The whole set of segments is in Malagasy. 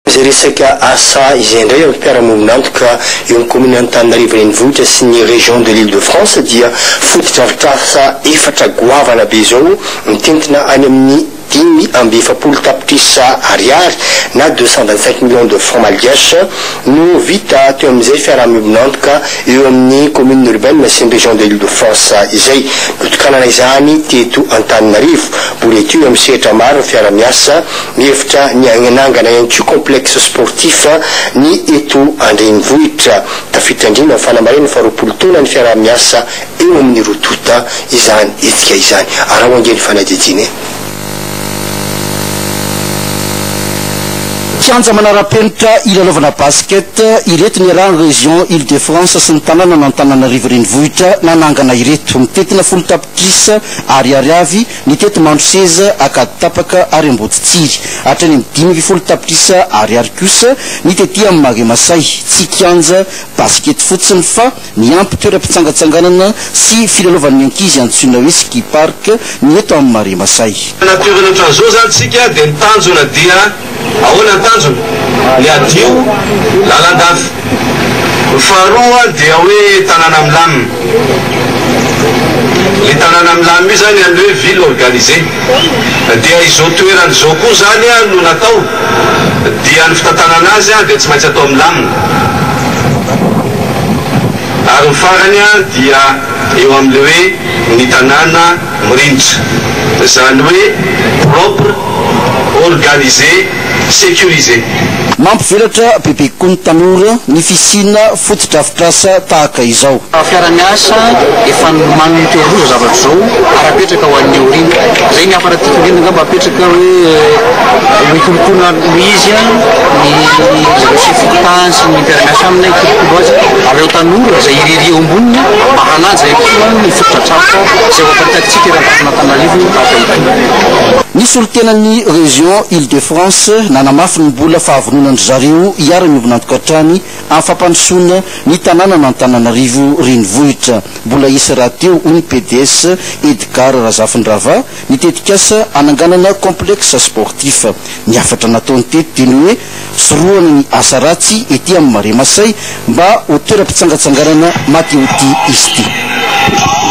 Izay resaka asa izay indray ary mpiara-miombon'antoka eo amin'ny kaominina Antananarivo Renivohitra sy ny Région de l'Île-de-France dia fotodrafitrasa efatra goavana be izao mitentina any amin'ny dimy amby efapolo tapitrisa ariary na deux cent vingt cinq millions de francs malgaches no vita teo amin'izay fiaraha-miombon'antoka eo amin'ny commune urbaine sy ny Région de l'Île-de-France izay notokanana izany teto Antananarivo. Boretio eo amin'ny sehatra maro ny fiara-miasa Mihevitra ny hanangana ihany koa complexe sportif ny eto an-drenivohitra. Tafiditra indrindra amin'ny fanamarihana ny faharoapolo taona ny fiaraha-miasa eo amin'ny roa tonta izany hetsika izany. Araho ange ny fanadihadiana e! Kianja manara-penitra hilalaovana basket ireto niarahan'ny Région Île-de-France sy ny tanànan'Antananarivo Renivohitra nanangana ireto. Mitentina folo tapitrisa Ariary avy Ny teto Mandroseza, Ankady tapaka ary Amboditsiry, hatrany amin'ny dimy ambin'ny folo tapitrisa ariary kosa ny tety amin'ny Marais Masay, tsy kianja basikety fotsiny fa miampy toeram-pitsangatsanganana sy filalaovan'ny ankizy antsoina hoe ski park ny eto amin'ny Marais Masay. Tena toerana ohatran'izao izany tsika dia ny tanjona dia. Ahoana ny tanjona? Ny hadio, lalandava. Ny faharoa dia hoe tanàna milamina. Ilay tanàna milamina io izany amin'ny hoe ville organisée. Dia izao toerana izao koa izany no natao, dia ny fitantanana azy dia tsy maintsy atao milamina. Ary ny farany dia eo amin'ilay hoe ny tanàna. mirindra, izany hoe propre, organisé, sécurisé. Mampivelatra bebe kokoa ny tanora ny fisiana fotodrafitrasa tahaka izao. Fiaraha-miasa efa nomanin'ny toeran'io izao zavatra izao ary apetraka ho an'ny aoriana. Izay ny hafa raha tiako indrindra angamba apetraka hoe hikolokolo ary noho izy ny zareo chef fokontany sy ny mpiara-miasa aminy hikolokolo azy ary ireo tanora izay irery eo amboniny mba hanaja ihany koa ny fotodrafitrasa. Tsapao izay ho amparitakatsika eran'ny vaton'Antananarivo tahaka izany. Ny solontenan'ny Région Île de France nanamafy ny mbola fahavononandry zareo hiara-miombona antoka hatrany amin'ny fampandrosoana ny tanànan'Antananarivo renivohitra. Mbola hisy rahateo, hoy ny PDS, Edgard Razafindrava, ny tetikasa hananganana complexe sportif. Ny hafatra nataony teto dia ny hoe. Sorohana ny asa ratsy ety amin'ny Marais Masay mba ho toeram-pitsangatsanganana matihotia izy ity.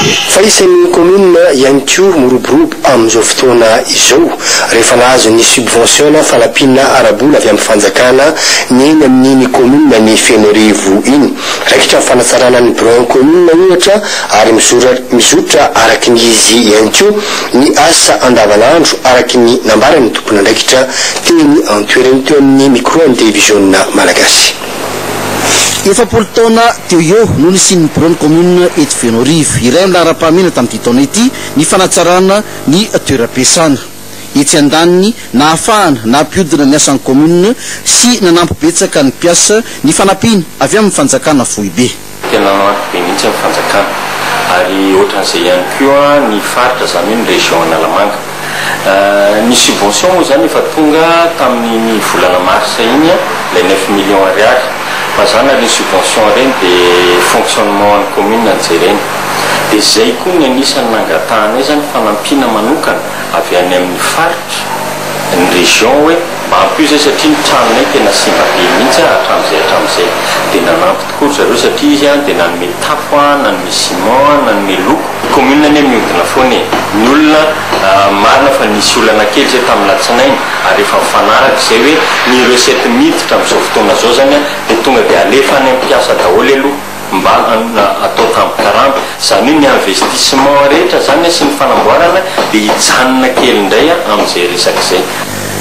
Fa isan'ny kaominina ihany koa miroborobo amin'izao fotoana izao rehefa nahazo ny subvention na fanampiana ara-bola avy amin'ny fanjakana ny eny amin'iny kaominina ny Fenoarivo iny. Raikitra ny fanatsarana ny biraon'ny kaominina ohatra ary mizotra araka ny izy ihany koa ny asa andavanandro araka ny nambaran'ny tompon'andraikitra Teny an-toerana teo amin'ny mikroan'ny televiziona malagasy. Efapolo taona teo ho eo no nisian'ny biraon'ny kaominina eto Fenoarivo, iray amin'ny laharam-pahamehana tamin'ity taona ity, ny fanatsarana ny toeram-piasana. Etsy andaniny, nahafahana nampihodina ny asan'ny kaominina sy nanampy betsaka ny mpiasa ny fanampiana avy amin'ny fanjakana foibe. Tena maro be mihitsy ny fanjakana ary ohatran'izay ihany koa ny faritra izany hoe ny région Analamanga. Ny subvention moa izany efa tonga tamin'iny volana mars iny ilay neuf millions ariary fa izany ary iny subvention ireny dia fonctionnement an'ny commune no jerena. Dia izay koa ny anisan'ny nangatahanay izany fanampiana manokana avy any amin'ny faritra, ny région hoe mba ampio izay satria ny tranonay tena simba be mihitsy hatramin'izay hatramin'izay dia nanampy Koa ry zareo satria izy an dia nanome tafo an, nanome ciment an, nanome loko. Commune anie miodina foana e! Ny olona marina fa nisy olana kely izay tamin'ny latsinainy ary efa mifanaraka izay hoe ny recette miditra amin'izao fotoana izao izany an dia tonga dia alefa any amin'ny mpiasa daholo aloha mba atao tambin-karama. Izany hoe ny investissement rehetra izany an sy ny fanamboarana dia hijanona kely indray an amin'izay resaka izay.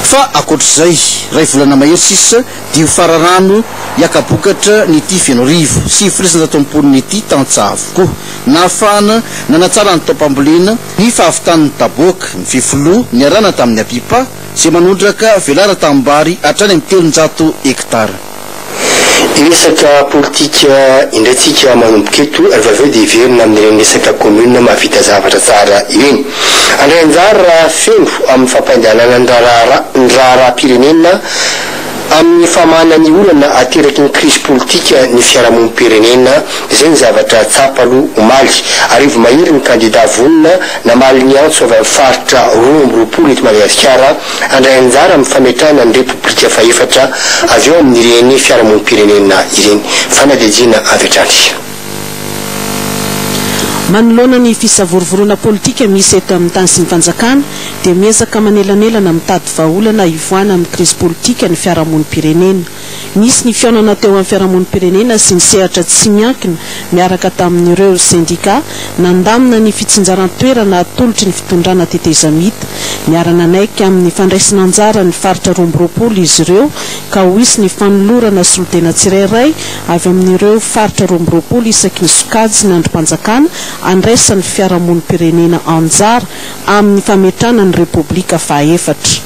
Fa ankoatr'izay, iray volana mahery sisa Dio fararano hiaka-bokatra ny ity Fenoarivo sivy folo sy sivinjato amby folo ity tantsaha avokoa. Nahafahana nanatsara ny taom-pambolena, ny fahavitan'ny taboaka, ny fefiloha niarahana tamin'ny apipa izay manondraka velara tanimbary hatrany amin'ny telonjato hektara. Hiresaka politika indray tsika manomboka eto rehefa avy eo dia hiverina amin'ireny resaka commune mahavita zavatra tsara ireny. Handray anjara feno amin'ny fampandehanana ny raharaha ny raharaham-pirenena Amin'ny famahana ny olana ateraky ny krizy politika ny fiarahamonim-pirenena, izay ny zavatra tsapa aloha omaly. Arivo mahery ny kandidà vonona namaly ny antso avy amin'ny faritra roa amby roapolo eto Madagasikara handray anjara amin'ny fametrahana ny Repoblika fahefatra avy ao amin'ireny fiarahamonim-pirenena ireny. Fanadihadiana avy hatrany. Manoloana ny fisavorovoroana politika misy eto amin'ny tany sy ny fanjakana dia miezaka manelanelana mitady vahaolana hivoahana amin'ny krizy politika ny fiarahamonim-pirenena. Nisy ny fihaonana teo amin'ny fiarahamonim-pirenena sy ny sehatra tsy miankina miaraka tamin'ireo sendika nandamina ny fitsinjaran-toerana atolotry ny fitondrana tetezamita. Miara-nanaiky amin'ny fandraisana anjara ny faritra roa amby roapolo izy ireo ka ho hisy ny fanolorana solontena tsirairay avy amin'ireo faritra roa amby roapolo isaky ny sokajy ny andrim-panjakana andraisan'ny fiarahamonim-pirenena anjara amin'ny fametrahana ny Repoblika fahaefatra.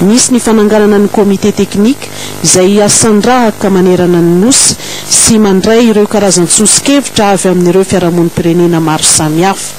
Misy ny fananganana ny Comité Technique izay hiasan-drahaka manerana ny Nosy sy mandray ireo karazan-tsoso-kevitra avy amin'ireo fiarahamonim-pirenena maro samihafa.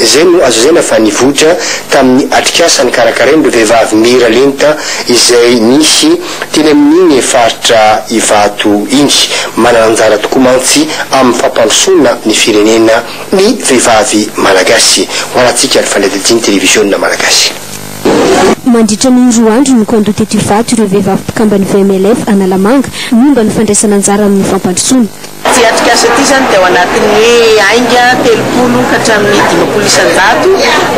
Izay no azo lazaina fa nivoitra tamin'ny atrikasa nikarakarain'ireo vehivavy mira lenta izay nisy teny amin'iny faritra Ivato iny. Manana anjara tokoa mantsy amin'ny fampandrosoana ny firenena ny vehivavy malagasy. Ho anantsika ny fanadihadian'ny televiziona malagasy. Mandritra ny roa andro no kandoha teto Ivato ireo vehivavy mpikamban'ny VMLF Analamanga momba ny fandraisana anjara amin'ny fampandrosoana. Ity atrikasa ity izany dia ao anatin'ny hoe ainga telopolo ka hatramin'ny dimampolo isan-jato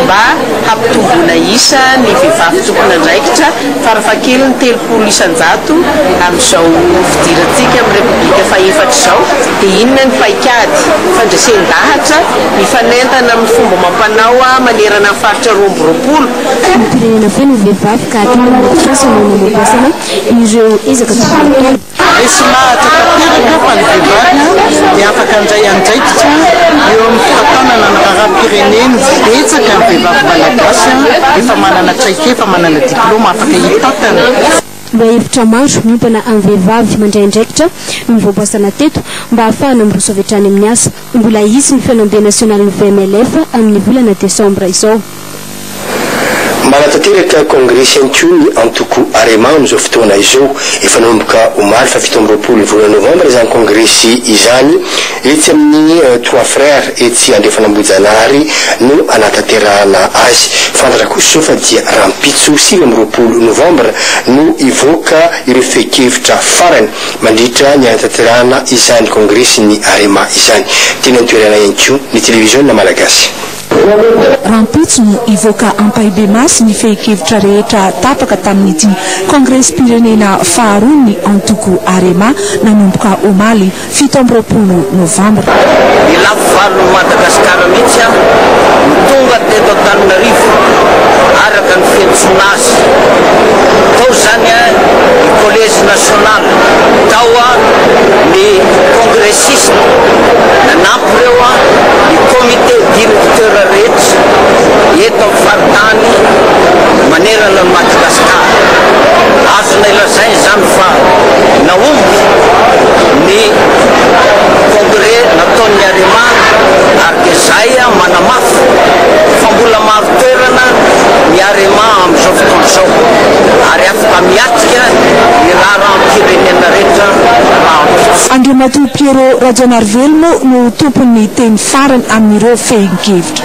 mba hampitomboana isa ny vehivavy tompon'andraikitra farafahakeliny telopolo isan-jato amin'izao fidirantsika amin'ny Repoblika fahefatra izao dia inona ny paikady fandresen-dahatra mifanentana amin'ny fomba amam-panao manerana ny faritra roa amby roapolo Ny mpirenena feno vehivavy ka hatramin'ny atrikasa no nanampiasana ireo ezaka tokony hataony. Resy lahatra tanteraka fa ny vehivavy dia afaka handray andraikitra eo amin'ny fitantanana ny raharaham-pireneny. Betsaka ny vehivavy malagasy efa manana traikefa, manana diplaoma, afaka hitantana. Lohahevitra maro miompana amin'ny vehivavy mandray andraikitra no nivoaboasana teto mba hahafahana miroso avy hatrany amin'ny asa. Mbola hisy ny fihaonambe nasionalin'ny VMLF amin'ny volana desambra izao. Manatanteraka Congrès Centio ny antoko Arema amin'izao fotoana izao. Efa nanomboka omaly fahafito amby roapolo ny volana novambra izany kongresy izany etsy amin'ny Trois Frères etsy Andrefan'Ambohijanahary no hanatanterahana azy. Fantatra kosa izao fa dia rahampitso sivy amby roapolo novambra no hivoaka ireo fehin-kevitra farany mandritra ny hanatanterahana izany kongresin'ny Arema izany. Teny an-toerana ihany koa ny televiziona malagasy. Rahampitso no hivoaka ampahibemaso ny fehin-kevitra rehetra tapaka tamin'ity kongresim-pirenena faharoa ny antoko Arema nanomboka omaly fito amby roapolo novambra. Ny lafy valon'i Madagasikara mihitsy aho no tonga teto Antananarivo araka ny fiantsoana azy tao izany ny Collège National tao ny Congrès Sisa, nanampy ireo ny comité directeur rehetra eto amin'ny faritany manerana an'i Madagasikara. Azonay lazaina izany fa nahomby ny congrès nataon'ny Arema ary dia izay manamafy fa mbola maro toerana ny Arema amin'izao fotoana izao ary afaka miatrika ny raharaham-pirenena rehetra Andriamatoa Pierrot Rajanarivelo moa no ho tompon'ny teny farany amin'ireo fehin-kevitra.